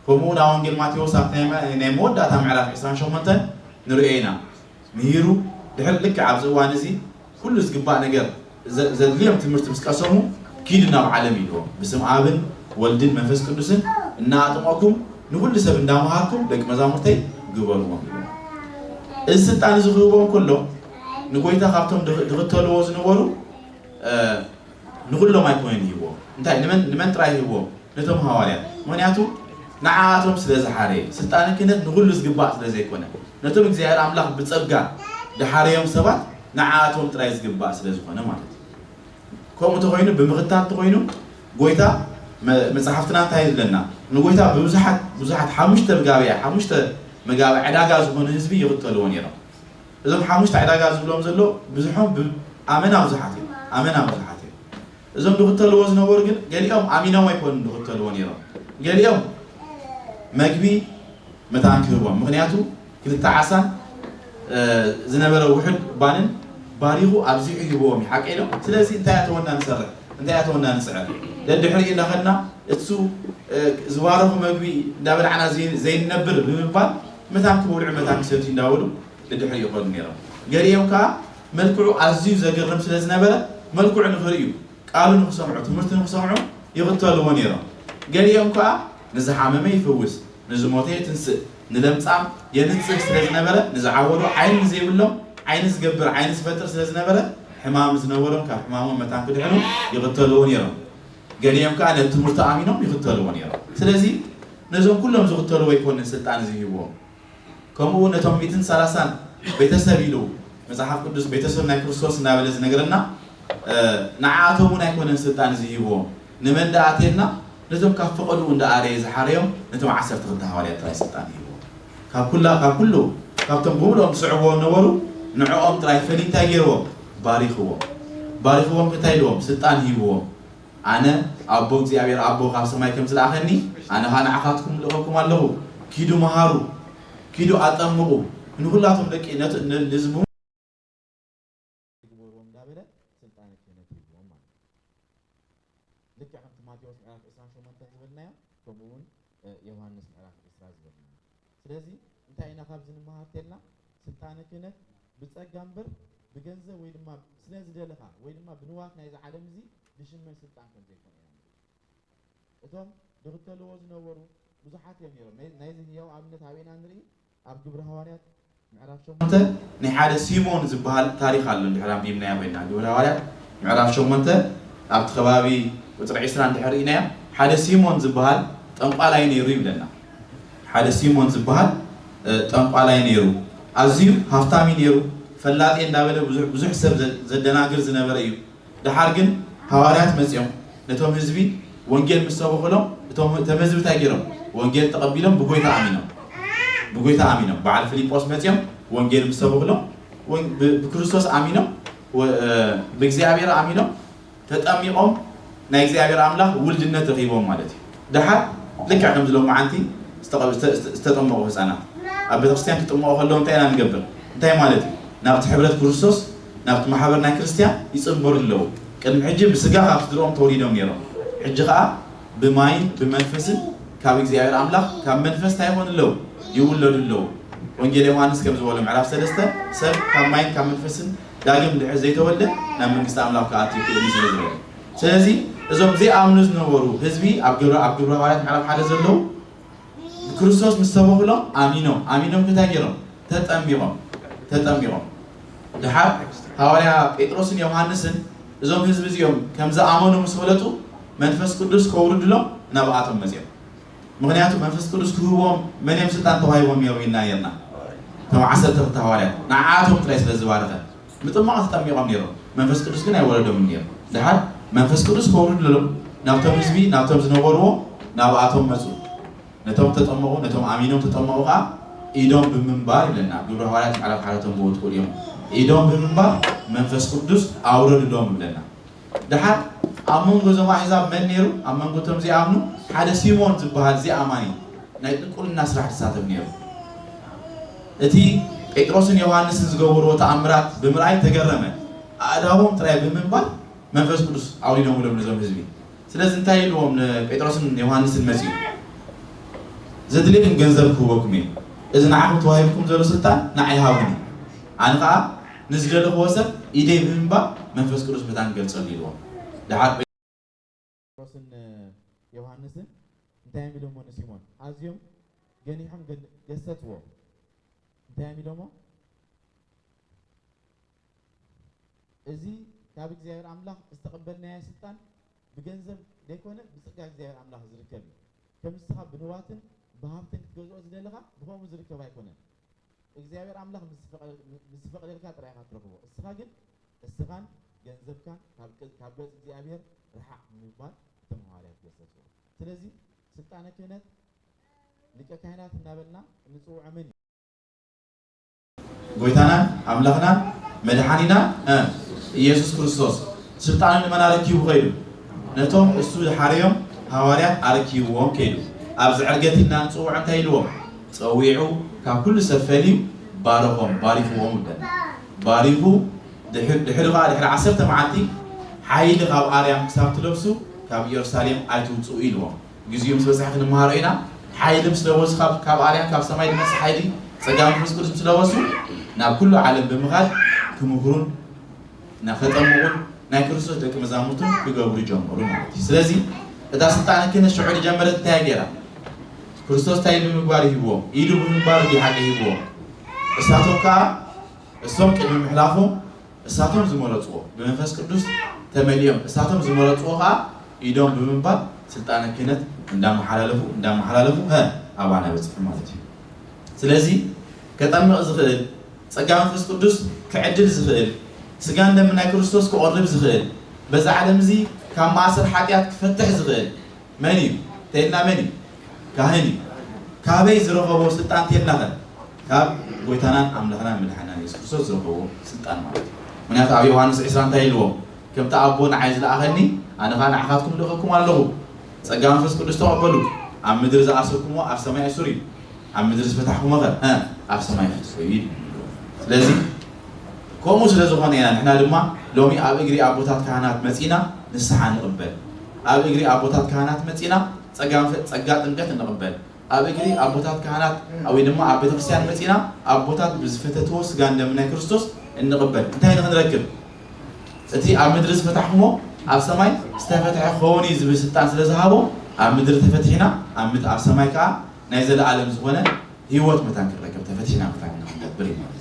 ከምኡ ውን ኣብ ወንጌል ማቴዎስ ኣብቲ ናይ መወዳእታ ምዕራፍ ዕስራን ሸሞንተን ንርእዮ ኢና። ምሂሩ ድሕሪ ልክዕ ኣብዚ እዋን እዚ ኩሉ ዝግባእ ነገር ዘድልዮም ትምህርቲ ምስ ቀሰሙ ኪዱ ናብ ዓለም ኢልዎም ብስም ኣብን ወልድን መንፈስ ቅዱስን እናኣጥመኩም ንኹሉ ሰብ እንዳመሃርኩም ደቂ መዛሙርተይ ግበርዎም ኢልዎም። እዚ ስልጣን እዚ ክህቦም ከሎ ንጎይታ ካብቶም ድኽተልዎ ዝነበሩ ንኹሎም ኣይኮነን ይህቦ እንታይ ንመን ንመን ጥራይ ይህቦ ነቶም ሃዋርያት ምክንያቱ ንዓኣቶም ስለ ዝሓረየ ስልጣነ ክህነት ንኹሉ ዝግባእ ስለ ዘይኮነ ነቶም እግዚኣብሔር ኣምላኽ ብጸጋ ድሓረዮም ሰባት ንዓኣቶም ጥራይ ዝግባእ ስለ ዝኾነ ማለት እዩ ከምኡ ተኾይኑ ብምኽታል ተኾይኑ ጎይታ መጽሓፍትና እንታይ ዝብለና ንጎይታ ብብዙሓት ብዙሓት ሓሙሽተ ብጋብያ ሓሙሽተ መጋቢ ዕዳጋ ዝኾኑ ህዝቢ ይኽተልዎ ነይሮም እዞም ሓሙሽተ ዕዳጋ ዝብሎም ዘሎ ብዝሖም ብ ኣመና ብዙሓት እዮም ኣመና ብዙሓት እዮም እዞም ድኽተልዎ ዝነበሩ ግን ገሊኦም ኣሚኖም ኣይኮኑን ድኽተልዎ ነይሮም ገሊኦም መግቢ መታን ክህቦም ምክንያቱ ክልተ ዓሳን ዝነበረ ውሑድ ባንን ባሪኹ ኣብዚሑ ሂብዎም እዩ ሓቀይ ዶ ስለዚ እንታይ ኣተወና ንሰርሕ እንታይ ኣተወና ንስዕር ደድሕሪ እናኸድና እሱ ዝባረኹ መግቢ እንዳበላዕና ዘይንነብር ብምባል መታን ክበልዑ መታን ክሰትዩ እንዳበሉ ንድሕሪት ይኸዱ ነይሮም። ገሊኦም ከኣ መልክዑ ኣዝዩ ዘገርም ስለ ዝነበረ መልክዑ ንኽርእዩ፣ ቃሉ ንኽሰምዑ፣ ትምህርቱ ንኽሰምዑ ይኽተልዎ ነይሮም። ገሊኦም ከኣ ንዝሓመመ ይፍውስ፣ ንዝሞተ የትንስእ፣ ንለምጻም የንጽህ ስለ ዝነበረ ንዝዓወዱ ዓይኒ ንዘይብሎም ዓይኒ ዝገብር ዓይኒ ዝፈጥር ስለ ዝነበረ ሕማም ዝነበሮም ካብ ሕማሞም መታን ክድሕኑ ይኽተልዎ ነይሮም። ገሊኦም ከኣ ነቲ ትምህርቱ ኣሚኖም ይኽተልዎ ነይሮም። ስለዚ ነዞም ኩሎም ዝኽተልዎ ኣይኮንን ስልጣን እዚ ሂብዎም። ከምኡውን ነቶም ሚእትን ሰላሳን ቤተሰብ ኢሉ መጽሓፍ ቅዱስ ቤተሰብ ናይ ክርስቶስ እናበለ ዝነግረና ንዓኣቶም እውን ኣይኮነን ስልጣን እዚ ሂብዎም። ንመን ደኣ ኣቴና ነቶም ካብ ፈቐድኡ እንዳ ኣረየ ዝሓረዮም ነቶም ዓሰርተ ክልተ ሃዋርያት ጥራይ ስልጣን ሂብዎም። ካብ ኩላ ካብ ኩሉ ካብቶም ብምሉኦም ዝስዕብዎ ነበሩ ንዕኦም ጥራይ ፈሊ እንታይ ጌርዎም ባሪኽዎም ባሪኽዎም እንታይ ኢልዎም ስልጣን ሂብዎም ኣነ ኣቦ እግዚኣብሔር ኣቦ ካብ ሰማይ ከም ዝለኣኸኒ ኣነ ኸኣ ንዓኻትኩም እልእኸኩም ኣለኹ ኪዱ መሃሩ ኪዱ ኣጠምቑ ንኹላቶም ደቂ ነቲ ንዝም ግበርዎም እንዳበለ ስልጣነ ክህነት ሂብዎም ማለት እዩ። ልክዕ ከምቲ ማቴዎስ ምዕራፍ ዕስራን ሸሞንተን ዝበልናዮ ከምኡ ውን ዮሃንስ ምዕራፍ ዕስራ ዝበልናዮ። ስለዚ እንታይ ኢና ካብዚ ንመሃር ተልና ስልጣነ ክህነት ብጸጋ እምበር ብገንዘብ ወይ ድማ ስለ ዝደለኻ ወይ ድማ ብንዋት ናይዚ ዓለም እዚ ዝሽመን ስልጣን ከም ዘይኮነ ኢና ንርኢ። እቶም ድኽተልዎ ዝነበሩ ብዙሓት እዮም ኔሮም። ናይዚ ህያው ኣብነት ኣበይ ኢና ንርኢ? ኣብ ግብሪ ሃዋርያት ምዕራፍ ሸሞንተ ናይ ሓደ ሲሞን ዝበሃል ታሪኽ ኣሎ እንድሕር ኣንቢብናያ ኮይና ግብሪ ሃዋርያት ምዕራፍ ሸሞንተ ኣብቲ ከባቢ ቁጽሪ ዕስራ እንድሕር ርኢናያ ሓደ ሲሞን ዝበሃል ጠንቋላይ ነይሩ ይብለና ሓደ ሲሞን ዝበሃል ጠንቋላይ ነይሩ ኣዝዩ ሃፍታም እዩ ነይሩ ፈላጥየ እንዳበለ ብዙሕ ሰብ ዘደናግር ዝነበረ እዩ ደሓር ግን ሃዋርያት መጺኦም ነቶም ህዝቢ ወንጌል ምስ ሰበኹሎም እቶም እተም ህዝቢ እንታይ ገይሮም ወንጌል ተቐቢሎም ብጎይታ ኣሚኖም ብጎይታ ኣሚኖም በዓል ፊልጶስ መጺኦም ወንጌል ምስ ሰበኹሎም ብክርስቶስ ኣሚኖም ብእግዚኣብሔር ኣሚኖም ተጠሚቖም ናይ እግዚኣብሔር ኣምላኽ ውልድነት ረኺቦም ማለት እዩ ደሓር ልክዕ ከምዚ ሎምዓንቲ ዝተጠመቑ ህጻናት ኣብ ቤተክርስትያን ክጥመቑ ከለዉ እንታይ ኢና ንገብር? እንታይ ማለት እዩ? ናብቲ ሕብረት ክርስቶስ ናብቲ ማሕበር ናይ ክርስትያን ይጽንበሩ ኣለዉ። ቅድሚ ሕጂ ብስጋ ካብ ስድርኦም ተወሊዶም ኔሮም ሕጂ ከኣ ብማይን ብመንፈስን ካብ እግዚኣብሔር ኣምላኽ ካብ መንፈስ እንታይ ይኾኑ ኣለዉ? ይውለዱ ኣለዉ። ወንጌል ዮሓንስ ከም ዝበሎ ምዕራፍ ሰለስተ ሰብ ካብ ማይን ካብ መንፈስን ዳግም እንድሕር ዘይተወልደ ናብ መንግስቲ ኣምላኽ ክኣቱ ኣይክእልን እዩ ስለ ዝበለ። ስለዚ እዞም ዘይኣምኑ ዝነበሩ ህዝቢ ኣብ ግብረ ኣብ ግብረ ሃዋርያት ምዕራፍ ሓደ ዘለዉ ብክርስቶስ ምስ ሰበኹሎም ኣሚኖም ኣሚኖም እንታይ ገይሮም ተጠሚቖም ተጠሚቖም ድሓር ሃዋርያ ጴጥሮስን ዮሃንስን እዞም ህዝቢ እዚኦም ከም ዝኣመኑ ምስ ፈለጡ መንፈስ ቅዱስ ከውርድሎም ናብኣቶም መጺኦም ምክንያቱ መንፈስ ቅዱስ ክህቦም መን እዮም ስልጣን ተዋሂቦም ነይሮም ኢልና ነይርና እቶም ዓሰርተ ክልተ ሃዋርያት ንዓኣቶም ጥራይ ስለ ዝባረኸ ብጥማቕ ተጠሚቖም ነይሮም፣ መንፈስ ቅዱስ ግን ኣይወረዶምን ነይሩ። ደሓር መንፈስ ቅዱስ ከውርድሎም ናብቶም ህዝቢ ናብቶም ዝነበርዎ ናብኣቶም መጹ፣ ነቶም እተጠመቑ ነቶም ኣሚኖም እተጠመቑ ከኣ ኢዶም ብምንባር ይብለና፣ ግብሪ ሃዋርያት ምዕራፍ ሓደ እቶም ብወትኡ ርእዮም ኢዶም ብምንባር መንፈስ ቅዱስ ኣውረዱሎም ይብለና። ደሓር ኣብ መንጎ እዞም ኣሕዛብ መን ነይሩ? ኣብ መንጎ እቶም ዚኣምኑ ሓደ ሲሞን ዚበሃል ዚኣማኒ ናይ ጥንቁልና ስራሕ ዚሳተፍ ነይሩ። እቲ ጴጥሮስን ዮሃንስን ዝገበርዎ ተኣምራት ብምርኣይ ተገረመ። ኣእዳዎም ጥራይ ብምንባር መንፈስ ቅዱስ ኣውሪዶምሎም ነዞም ህዝቢ። ስለዚ እንታይ ኢልዎም ንጴጥሮስን ዮሃንስን መጺኡ? ዘድልየኩም ገንዘብ ክህበኩም እየ። እዚ ንዓኹም ተዋሂብኩም ዘሎ ስልጣን ንዓይ ሃቡኒ። ኣነ ኸኣ። ንዝደለኽዎ ሰብ ኢደይ ብምባል መንፈስ ቅዱስ መታን ገልጸሉ ኢልዎም። ደሓር ጴ። ጴጥሮስን ዮሃንስን እንታይ እዮም ኢሎምዎ ንሲሞን? ኣዝዮም ገኒሖም ገሰጽዎ። እንታይ እዮም ኢሎምዎ? እዚ ካብ እግዚኣብሔር ኣምላኽ ዝተቐበልናዮ ስልጣን ብገንዘብ ዘይኮነ ብጸጋ እግዚኣብሔር ኣምላኽ ዝርከብ እዩ። ከም ንስኻ ብንዋትን ብሃብትን ክትገዝኦ ዝደለኻ ብኸምኡ ዝርከብ ኣይኮነን። እግዚኣብሔር ኣምላኽ ምስ ዝፈቅደልካ ጥራይ ኢኻ ትረኽቦ እስኻ ግን እስኻን ገንዘብካን ካብ ካብ ገጽ እግዚኣብሔር ርሓቅ ብምባል እቶም ሃዋርያት ገሰጽዎ ስለዚ ስልጣነ ክህነት ሊቀ ካህናት እናበልና እንጽውዖ መን እዩ? ጎይታናን ኣምላኽናን መድሓኒናን እ ኢየሱስ ክርስቶስ ስልጣኑ ንመን ኣረኪቡ ከይዱ ነቶም እሱ ዝሓረዮም ሃዋርያት ኣረኪብዎም ከይዱ ኣብዚ ዕርገቲ እና ንጽውዖ እንታይ ኢልዎም ጸዊዑ ካብ ኩሉ ሰብ ፈልዩ ባረኾም ባሪኽዎም ይብለና ባሪኹ ድሕሪ ድሕሪ ከኣ ድሕሪ ዓሰርተ መዓልቲ ሓይሊ ካብ ኣርያም ክሳብ ትለብሱ ካብ ኢየሩሳሌም ኣይትውጽኡ ኢልዎም ግዚኡ ምስ በጽሐ ክንመሃሮ ኢና ሓይሊ ምስ ለበሱ ካብ ካብ ኣርያም ካብ ሰማይ ዝመጽእ ሓይሊ ጸጋ መንፈስ ቅዱስ ምስ ለበሱ ናብ ኩሉ ዓለም ብምኻድ ክምህሩን እና ከጠምቁን ናይ ክርስቶስ ደቂ መዛሙርቱን ክገብሩ ጀመሩ ማለት እዩ ስለዚ እታ ስልጣን ክህነት ሽዑ ዝጀመረት እንታይ ገይራ ክርስቶስ እንታይ ብምግባር ይህብዎም ኢዱ ብምግባር እዩ ሓቂ ይህብዎም እሳቶም ከዓ እሶም ቅድሚ ምሕላፎም እሳቶም ዝመረፅዎ ብመንፈስ ቅዱስ ተመሊኦም እሳቶም ዝመረፅዎ ከዓ ኢዶም ብምንባር ስልጣነ ክህነት እንዳመሓላለፉ እንዳመሓላለፉ ሀ ኣባና በፅሑ ማለት እዩ ስለዚ ከጠምቕ ዝኽእል፣ ጸጋ መንፈስ ቅዱስ ክዕድል ዝኽእል፣ ስጋን ደምን ናይ ክርስቶስ ክቖርብ ዝኽእል፣ በዚ ዓለም እዚ ካብ ማእሰር ሓጢኣት ክፈትሕ ዝኽእል መን እዩ ተይልና መን እዩ? ካህን እዩ። ካበይ ዝረኸቦ ስልጣን ተይልናኸ? ካብ ጎይታናን ኣምላኽናን መድሓኒናን የሱስ ክርስቶስ ዝረኸቦ ስልጣን ማለት እዩ። ምክንያቱ ኣብ ዮሃንስ ዕስራ እንታይ ኢልዎም? ከምቲ ኣቦ ንዓይ ዝለኣኸኒ ኣነ ኸኣ ንዓኻትኩም ልእኸኩም ኣለኹ። ጸጋ መንፈስ ቅዱስ ተቐበሉ፣ ኣብ ምድሪ ዝኣሰርኩምዎ ኣብ ሰማይ እሱር እዩ፣ ኣብ ምድሪ ዝፈታሕኩሞኸ እ ኣብ ሰማይ ፍትሑ እዩ ይብልዎም። ስለዚ ከምኡ ስለ ዝኾነ ኢና ንሕና ድማ ሎሚ ኣብ እግሪ ኣቦታት ካህናት መጺእና ንስሓ ንቕበል፣ ኣብ እግሪ ኣቦታት ካህናት መጺእና ጸጋ ጸጋ ጥምቀት እንቕበል። ኣብ እግሪ ኣቦታት ካህናት ወይ ድማ ኣብ ቤተክርስትያን መጺእና ኣቦታት ብዝፈተትዎ ስጋን ደምን ናይ ክርስቶስ እንቕበል እንታይ ንኽንረክብ እቲ ኣብ ምድሪ ዝፈታሕክሞ ኣብ ሰማይ ዝተፈትሐ ክኸውን እዩ ዝብል ስልጣን ስለ ዝሃቦ ኣብ ምድሪ ተፈቲሕና ኣብ ምድ ኣብ ሰማይ ከዓ ናይ ዘለኣለም ዝኾነ ህይወት መታን ክንረክብ ተፈቲሕና መታን ንኽንገብር እዩ ማለት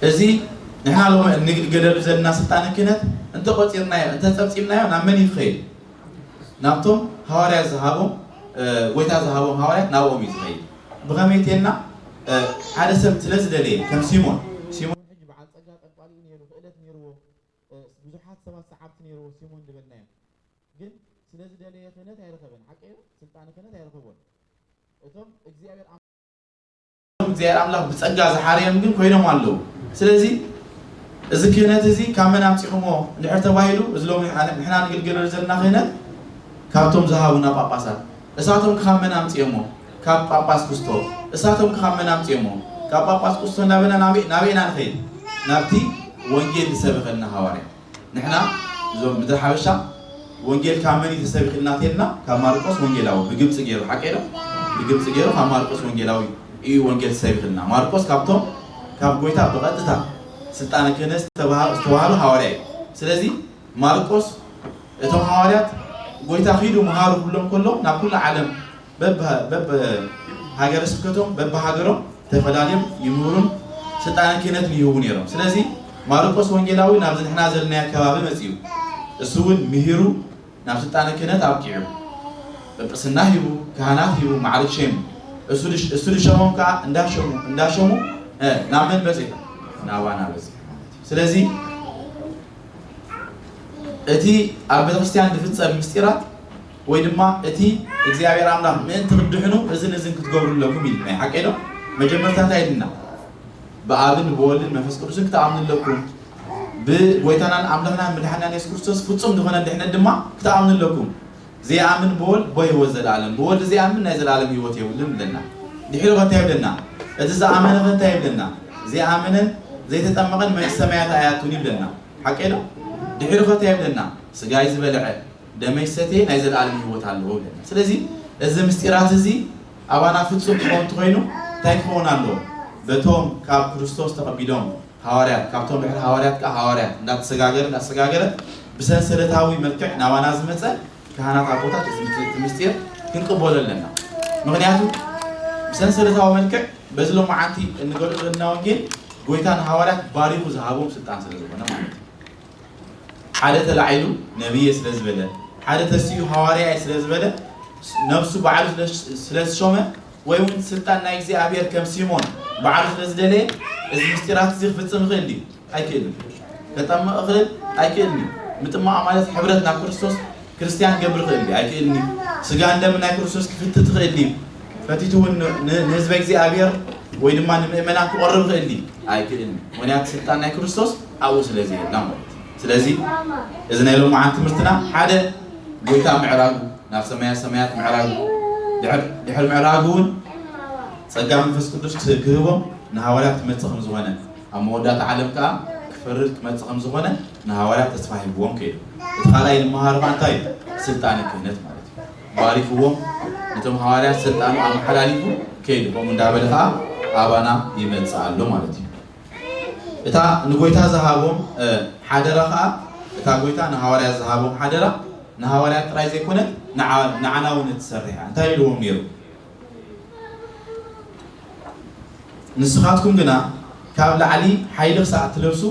እዩ እዚ ንሕና ሎሚ እንግልገለሉ ዘለና ስልጣነ ክህነት እንተቆፂርናዮ እንተፀብፂብናዮ ናብ መን ይኸይድ ናብቶም ሃዋርያት ዝሃቦም ጎይታ ዝሃቦም ሃዋርያት ናብኦም እዩ ዝኸይድ ብኸመይ ተልና ሓደ ሰብ ስለ ዝደለየ ከም ሲሞን ሲሞን ሕጂ በዓል ጸጋ ጠንቋሊ እዩ ነይሩ ክእለት ነይርዎ ብዙሓት ሰባት ሰዓብቲ ነይርዎ ሲሞን ዝበልናዮ ግን ስለ ዝደለየ ክህነት ኣይረኸበን ሓቀዮ ስልጣን ክህነት ኣይረኸቦን እቶም እግዚኣብሔር እቶም እግዚኣብሔር ኣምላኽ ብጸጋ ዝሓረዮም ግን ኮይኖም ኣለዉ። ስለዚ እዚ ክህነት እዚ ካብ መን ኣምጺኹሞ እንድሕር ተባሂሉ እዚ ሎሚ ንሕና ንግልገለሉ ዘለና ክህነት ካብቶም ዝሃቡና ጳጳሳት እሳቶም ከ ካብ መን ኣምጺኦሞ ካብ ጳጳስ ኩስቶ እሳቶም ከ ካብ መን ኣምጺኦሞ ካብ ጳጳስ ኩስቶ እንዳበልና ናበይ ናበይ ኢና ንኸይድ ናብቲ ወንጌል ዝሰበኸልና ሃዋርያ ንሕና እዞም ምድረ ሓበሻ ወንጌል ካብ መን እዩ ተሰቢኹልና ተይልና ካብ ማርቆስ ወንጌላዊ ብግብጺ ገይሩ ሓቀይ ዶ ብግብጺ ገይሩ ካብ ማርቆስ ወንጌላዊ እዩ ወንጌል ተሰቢኹልና ማርቆስ ካብቶም ካብ ጎይታ ብቐጥታ ስልጣነ ክህነት ዝተባሃ ዝተዋሃበ ሃዋርያ እዩ ስለዚ ማርቆስ እቶም ሃዋርያት ጎይታ ኺዱ መሃሩ ክብሎም ከሎ ናብ ኩሉ ዓለም በብሃገረ ስብከቶም በብሃገሮም ተፈላልዮም ይምህሩን ስልጣነ ክህነትን ይህቡ ነይሮም። ስለዚ ማርቆስ ወንጌላዊ ናብዚ ንሕና ዘለናዮ ከባቢ መጺኡ እሱ እውን ምሂሩ ናብ ስልጣነ ክህነት ኣብቂዑ ጵጵስና ሂቡ ካህናት ሂቡ ማዕርግ ሸይሙ እሱ ድሸሞም ከዓ እንዳሸሙ እንዳሸሙ ናብ መን በጺሑ ናባና በጺሑ ማለት እዩ። ስለዚ እቲ ኣብ ቤተክርስትያን ዝፍጸም ምስጢራት ወይ ድማ እቲ እግዚኣብሔር ኣምላኽ ምእንቲ ክትድሕኑ እዝን እዝን ክትገብሩ ኣለኩም ኢሉና እዩ ሓቀይ ዶ መጀመርታ እንታይ ኢሉና ብኣብን ብወልድን መንፈስ ቅዱስን ክትኣምኑ ኣለኩም ብጎይታናን ኣምላኽናን መድሓኒናን የሱስ ክርስቶስ ፍጹም ዝኾነ ድሕነት ድማ ክትኣምኑ ኣለኩም ዘይኣምን ብወልድ ቦ ህይወት ዘለኣለም ብወልድ ዘይኣምን ናይ ዘለኣለም ህይወት የብሉን ይብለና ድሒሩ ከ እንታይ ይብለና እቲ ዝኣመነ ከ እንታይ ይብለና ዘይኣመነን ዘይተጠመቐን መንግስተ ሰማያት ኣይኣቱን ይብለና ሓቀይ ዶ ድሒሩ ከ እንታይ ይብለና ስጋይ ዝበልዐ ደመይ ዝሰትየ ናይ ዘለኣለም ህይወት ኣለዎ ኢለና። ስለዚ እዚ ምስጢራት እዚ ኣባና ፍጹም ክኸውን እንተኾይኑ እንታይ ክኸውን ኣለዎ? በቶም ካብ ክርስቶስ ተቐቢሎም ሃዋርያት፣ ካብቶም ድሕሪ ሃዋርያት ከኣ ሃዋርያት እንዳተሰጋገረ እንዳተሰጋገረ ብሰንሰለታዊ መልክዕ ናባና ዝመጸ ካህናት ኣቦታት እዚ እቲ ምስጢር ክንቅበሎ ኣለና። ምኽንያቱ ብሰንሰለታዊ መልክዕ በዚ ሎማዓንቲ እንገልጾ ዘለና ወንጌል ጎይታ ንሃዋርያት ባሪኹ ዝሃቦም ስልጣን ስለዝኾነ ማለት እዩ። ሓደ ተላዒሉ ነብይ'የ ስለ ዝበለ፣ ሓደ ተሲኡ ሃዋርያ'የ ስለ ዝበለ፣ ነብሱ ባዕሉ ስለ ዝሾመ፣ ወይ'ውን ስልጣን ናይ እግዚኣብሔር ከም ሲሞን ባዕሉ ስለ ዝደለየ፣ እዚ ምስጢራት'ዚ ክፍጽም ይኽእል ድዩ? ኣይክእልን። ከጠምቕ እኽእል? ኣይክእልን'ዩ። ምጥማቕ ማለት ሕብረት ናብ ክርስቶስ ክርስትያን ክገብር ይኽእል ድዩ? ኣይክእልን'ዩ። ስጋን ደምን ናይ ክርስቶስ ክፍትት ይኽእል ድዩ? ፈቲቱ'ውን ን ንህዝበ እግዚኣብሔር ወይ ድማ ንምእመናን ክቐርብ ይኽእል ድዩ? ኣይክእልን። ምኽንያቱ ስልጣን ናይ ክርስቶስ ኣብኡ ስለ ዘየላ ማለት እዩ። ስለዚ እዚ ናይ ሎምዓንቲ ትምህርትና ሓደ ጎይታ ምዕራጉ ናብ ሰማያ ሰማያት ምዕራጉ ድሕር ድሕር ምዕራጉ ውን ጸጋ መንፈስ ቅዱስ ክስ ክህቦም ንሃዋርያት ክመጽእ ከም ዝኾነ ኣብ መወዳእታ ዓለም ከኣ ክፈርድ ክመጽእ ከም ዝኾነ ንሃዋርያት ተስፋ ሂብዎም ከይዱ። እቲ ካልኣይ ንመሃሮ ከኣ እንታይ እዩ ስልጣነ ክህነት ማለት እዩ። ባሪኽዎም ነቶም ሃዋርያት ስልጣኑ ኣመሓላሊፉ ከይዱ ከምኡ እንዳበለ ከኣ ኣባና ይመጽእ ኣሎ ማለት እዩ። እታ ንጎይታ ዝሃቦም ሓደራ ከኣ እታ ጎይታ ንሃዋርያት ዝሃቦም ሓደራ ንሃዋርያት ጥራይ ዘይኮነት ንዓና እውን እትሰርሕ እያ እንታይ ኢልዎም ነይሩ ንስኻትኩም ግና ካብ ላዕሊ ሓይሊ ክሳዕ እትለብሱ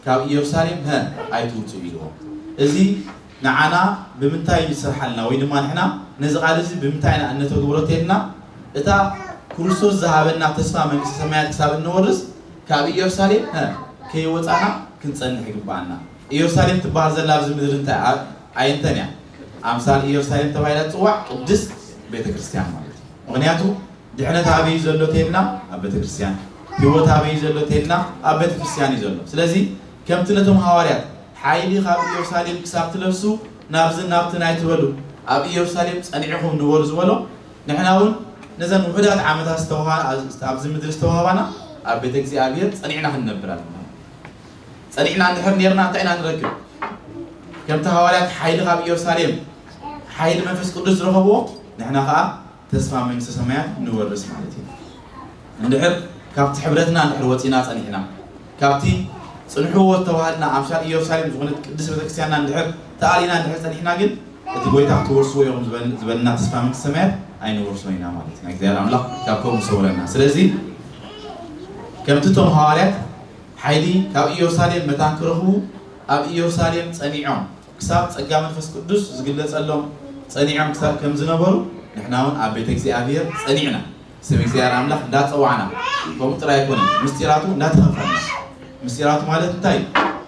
ካብ ኢየሩሳሌም ሀ ኣይትውጹ ኢልዎም እዚ ንዓና ብምንታይ እዩ ዝስርሓልና ወይ ድማ ንሕና ነዚ ቃል እዚ ብምንታይ ኢና እነተግብሮ ተይልና እታ ክርስቶስ ዝሃበና ተስፋ መንግስተ ሰማያት ክሳብ እንወርስ ካብ ኢየሩሳሌም ሀ ከይወፃና ክንፀንሕ ይግብኣና። ኢየሩሳሌም ትበሃል ዘላ ኣብዚ ምድሪ እንታይ እያ? ኣየንተን እያ? ኣምሳል ኢየሩሳሌም ተባሂላ ትፅዋዕ ቅድስት ቤተ ክርስቲያን ማለት እዩ። ምክንያቱ ድሕነት ኣበይ እዩ ዘሎ ተይልና ኣብ ቤተ ክርስቲያን፣ ህይወት ኣበይ እዩ ዘሎ ተይልና ኣብ ቤተ ክርስቲያን እዩ ዘሎ። ስለዚ ከምቲ ነቶም ሃዋርያት ሓይሊ ኻብ ኢየሩሳሌም ክሳብ ትለብሱ ናብዝን ናብትን ኣይትበሉ ኣብ ኢየሩሳሌም ጸኒዕኹም ንበሩ ዝበሎ ንሕናውን ነዘን ውሑዳት ዓመታት ዝተዋህባ ኣብዚ ምድሪ ዝተዋህባና ኣብ ቤተ እግዚኣብሔር ጸኒዕና ክንነብር ኣለና ጸኒዕና እንድሕር ኔርና እንታይ ኢና ንረክብ ከምቲ ሃዋርያት ሓይሊ ኻብ ኢየሩሳሌም ሓይሊ መንፈስ ቅዱስ ዝረኸብዎ ንሕና ኸኣ ተስፋ መንግስተ ሰማያት ንወርስ ማለት እዩ። እንድሕር ካብቲ ሕብረትና እንድሕር ወጺና ጸኒሕና ካብቲ ጽንሕዎ ዝተባሃልና ኣምሳል ኢዮርሳሌም ዝኾነት ቅድስት ቤተክርስቲያንና እንድሕር ተኣሊና እንድሕር ጸኒሕና ግን እቲ ጎይታ ክትወርስዎ ኢኹም ዝበለና ተስፋ መንግስተ ሰማያት ኣይንወርሶን ኢና ማለት ኢና። እግዚኣብሔር ኣምላኽ ካብ ከምኡ ይሰውረና። ስለዚ ከምቲ እቶም ሃዋርያት ሓይሊ ካብ ኢዮርሳሌም መታን ክረኽቡ ኣብ ኢዮርሳሌም ጸኒዖም ክሳብ ጸጋ መንፈስ ቅዱስ ዝግለጸሎም ጸኒዖም ክሳብ ከም ዝነበሩ ንሕናውን ኣብ ቤተ እግዚኣብሔር ጸኒዕና ስም እግዚኣብሔር ኣምላኽ እንዳጸዋዕና ከምኡ ጥራይ ኣይኮነን ምስጢራቱ እንዳተኸፈልና ምስጢራቱ ማለት እንታይ እዩ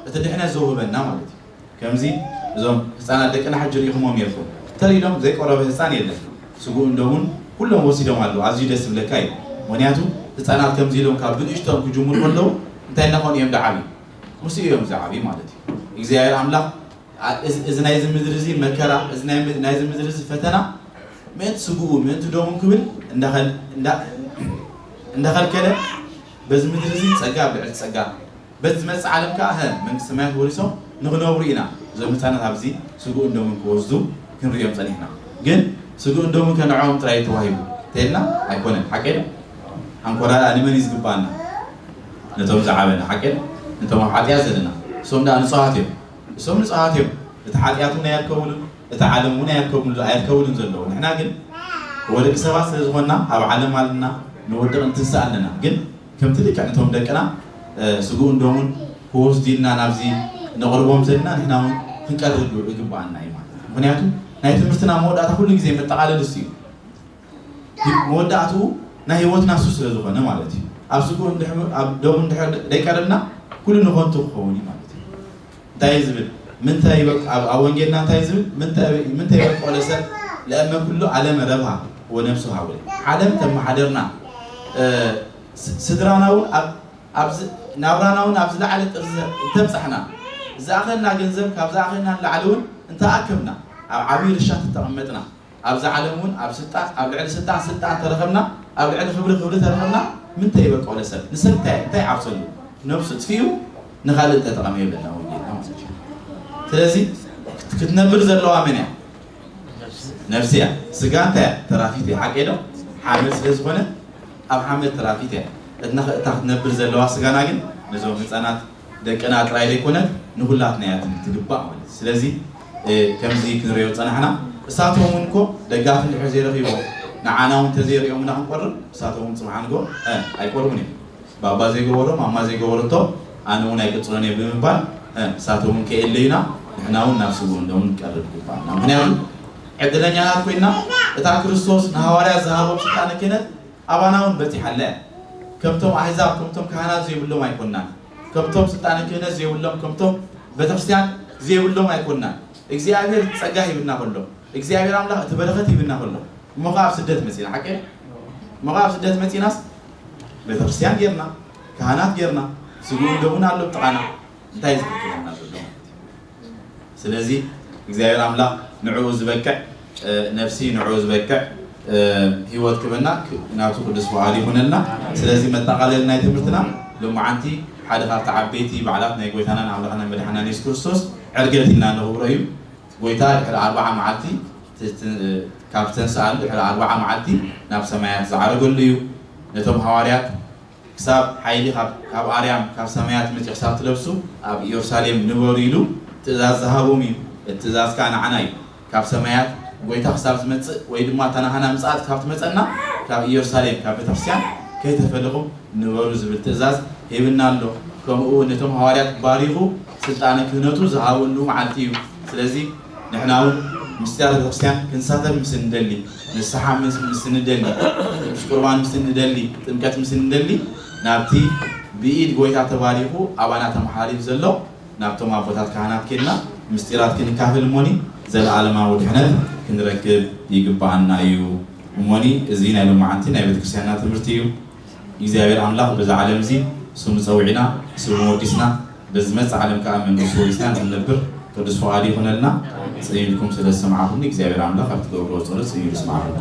እቲ ድሕነት ዘውህበና ማለት እዩ ከምዚ እዞም ህፃናት ደቅና ሕጂ ርኢኹሞም ኔርኩም ተሪሎም ዘይቆረበ ህፃን የለን ስጉኡ እንደውን ኩሎም ወሲዶም ኣለዉ ኣዝዩ ደስ ዝብለካ እዩ ምክንያቱ ህፃናት ከምዚ ኢሎም ካብ ብንእሽቶም ክጅምሩ ከለዉ እንታይ እናኾኑ እዮም ደዓብዩ ምስኡ እዮም ዝዓብዩ ማለት እዩ። እግዚኣብሔር ኣምላኽ እዚ ናይዚ ምድሪ እዚ መከራ እዚ ናይዚ ምድሪ እዚ ፈተና ምእንቲ ስግኡ ምእንቲ ደሙ ክብል እንዳኸልከለ በዚ ምድሪ እዚ ጸጋ ኣብ ልዕሊ ጸጋ በዚ ዝመጽእ ዓለም ከዓ ሀ መንግስቲ ሰማያት ወሪሶም ንክነብሩ ኢና እዞም ህፃናት ኣብዚ ስግኡን ደሙን ክወስዱ ክንሪኦም ጸኒሕና ግን ስግኡን ደሙን ከንዕኦም ጥራይ ተዋሂቡ ተይልና ኣይኮነን ሓቂ ኣንኮራራ ንመን እዩ ዝግባኣና ነቶም ዝዓበ ንዓቅን ነቶም ኣብ ሓጥያት ዘለና እሶም ደኣ ንጹሃት እዮም እሶም ንጹሃት እዮም እቲ ሓጥያት ውን ኣየርከቡሉን እቲ ዓለም ውን ኣየርከቡሉ ኣየርከቡሉን ዘለዉ ንሕና ግን እወ ደቂ ሰባት ስለ ዝኾንና ኣብ ዓለም ኣለና ንወድቅ ንትንሳእ ኣለና ግን ከምቲ ልክዕ ነቶም ደቅና ስግኡን ደሙን ክወስዱ ኢልና ናብዚ ነቅርቦም ዘለና ንሕና ውን ክንቀርብ ይግብኣና እዩ ማለት ምኽንያቱ ናይ ትምህርትና መወዳእታ ኩሉ ግዜ መጠቃለሊ እሱ እዩ ግን መወዳእትኡ ናይ ህይወትና ሱስ ስለ ዝኾነ ማለት እዩ ኣብ ስግኡ እንድሕር ኣብ ደሙ እንድሕር ደይቀረብና ኩሉ ንኾንቱ ክኸውን እዩ ማለት እዩ እንታይ እዩ ዝብል ምንተ ይበቅ ኣብ ኣብ ወንጌልና እንታይ እዩ ዝብል ምንተ ምንተ ይበቅ ለሰብ ለእመ ኩሉ ዓለመ ረብሃ ወነፍሱ ሃወ ዓለም ተመሓደርና ስድራና እውን ኣብ ናብራና እውን ኣብ ዝለዓለ ጥርዚ እንተብፃሕና ዝኣኸልና ገንዘብ ካብ ዝኣኸልና ንላዕሊ እውን እንተኣከብና ኣብ ዓብዪ ርሻ ተተቐመጥና ኣብዛ ዓለም ውን ኣብ ስልጣን ኣብ ልዕሊ ስልጣን ስልጣን ተረከብና ኣብ ልዕሊ ክብሪ ክብሪ ተረከብና ምንታይ በቀሎ ሰብ ንሰብ እንታይ እንታይ ዓብሰሉ ነብሱ ኣጥፊኡ ንካልእ ተጠቀመ ይብለና ወንጌልና ማለት እዩ ስለዚ ክትነብር ዘለዋ መን እያ ነብሲ እያ ስጋ እንታይ እያ ተራፊት እያ ሓቂ ዶ ሓመድ ስለ ዝኾነ ኣብ ሓመድ ተራፊት እያ እትና እታ ክትነብር ዘለዋ ስጋና ግን ነዞም ህፃናት ደቅና ጥራይ ዘይኮነት ንኹላትና እያ ትግባእ ማለት እዩ ስለዚ ከምዚ ክንሪኦ ዝጸናሕና እሳቶም እውን እኮ ደጋፊ እንድሕር ዘይረኺቦም ንዓና እውን ተዘይሪኦምና ክንቆርብ እሳቶም እውን ጽብሓ ንጎ ኣይቆርቡን እዮም ባባ ዘይገበሮ ማማ ዘይገበረቶ ኣነ እውን ኣይቅጽሎን እየ ብምባል እሳቶም እውን ከየለዩና ንሕና እውን ናብ ስውእ እንዶም ንቀርብ ይግባኣና ምክንያቱ ዕድለኛናት ኮይና እታ ክርስቶስ ንሃዋርያት ዝሃቦም ስልጣነ ክህነት ኣባናውን በጺሓ ኣላ እያ። ከምቶም ኣህዛብ ከምቶም ካህናት ዘይብሎም ኣይኮናን። ከምቶም ስልጣነ ክህነት ዘይብሎም ከምቶም ቤተክርስቲያን ዘይብሎም ኣይኮናን። እግዚኣብሔር እቲ ጸጋ ሂብና ከሎ እግዚኣብሔር ኣምላኽ እቲ በረኸት ሂብና ከሎ እሞ ከኣ ኣብ ስደት መጺና ሓቂ ድዩ? እሞ ከኣ ኣብ ስደት መጺናስ ቤተክርስቲያን ጌርና ካህናት ጌርና ስግኡን ደሙን ኣሎ ኣብ ጥቓና እንታይ እዩ ዝሕግዘና ዘሎ ማለት እዩ። ስለዚ እግዚኣብሔር ኣምላክ ንዕኡ ዝበቅዕ ነብሲ ንዕኡ ዝበቅዕ ሂወት ክበና ናቱ ቅዱስ ፍቃዱ ይኩነልና ስለዚ መጣቃለሊ ናይ ትምህርትና ሎማዓንቲ ሓደ ካብቲ ዓበይቲ ባዓላት ናይ ጎይታናን ኣምላክናን መድሓኒናን የሱስ ክርስቶስ ዕርገት ኢልና ነክብሮ እዩ ጎይታ ድሕሪ ኣርባዓ ማዓልቲ ካብ ዝተንሳኣሉ ድሕሪ ኣርባዓ ማዓልቲ ናብ ሰማያት ዝዓረገሉ እዩ ነቶም ሃዋርያት ክሳብ ሓይሊ ካብ ኣርያም ካብ ሰማያት መጺኡ ክሳብ ትለብሱ ኣብ ኢዮርሳሌም ንበሩ ኢሉ ትእዛዝ ዝሃቦም እዩ። እቲ ትእዛዝ ከኣ ንዓና እዩ። ካብ ሰማያት ጎይታ ክሳብ ዝመጽእ ወይ ድማ እታ ናሃና ምጽኣት ካብ ትመጸና ካብ ኢዮርሳሌም ካብ ቤተክርስቲያን ከይተፈለኹም ንበሩ ዝብል ትእዛዝ ሂብና ኣሎ። ከምኡ ውን ነቶም ሃዋርያት ባሪኹ ስልጣነ ክህነቱ ዝሃበሉ መዓልቲ እዩ። ስለዚ። ንሕና እውን ምስቲ ኣብ ቤተክርስቲያን ክንሳተፍ ምስ እንደሊ፣ ንስሓ ምስ ንደሊ፣ ቅዱስ ቁርባን ምስ ንደሊ፣ ጥምቀት ምስ ንደሊ፣ ናብቲ ብኢድ ጎይታ ተባሪኹ ኣባና ተመሓላሊፍ ዘሎ ናብቶም ኣቦታት ካህናት ኬድና ምስጢራት ክንካፈል እሞኒ ዘለዓለማዊ ድሕነት ክንረክብ ይግበኣና እዩ እሞኒ እዚ ናይ ሎምዓንቲ ናይ ቤተክርስቲያንና ትምህርቲ እዩ። እግዚኣብሔር ኣምላኽ በዚ ዓለም እዚ ስሙ ጸዊዕና ስሙ ወዲስና በዝመጽእ ዓለም ከኣ መንግስቱ ወሪስና እንድንነብር ቅዱስ ፍቃዱ ይኹነልና ጸሚምኩም ስለ ዝሰማዕኹምኒ እግዚኣብሔር ኣምላኽ ኣብ ትገብርዎ ጸሎት ጸሚሩ ይስማዕኹም።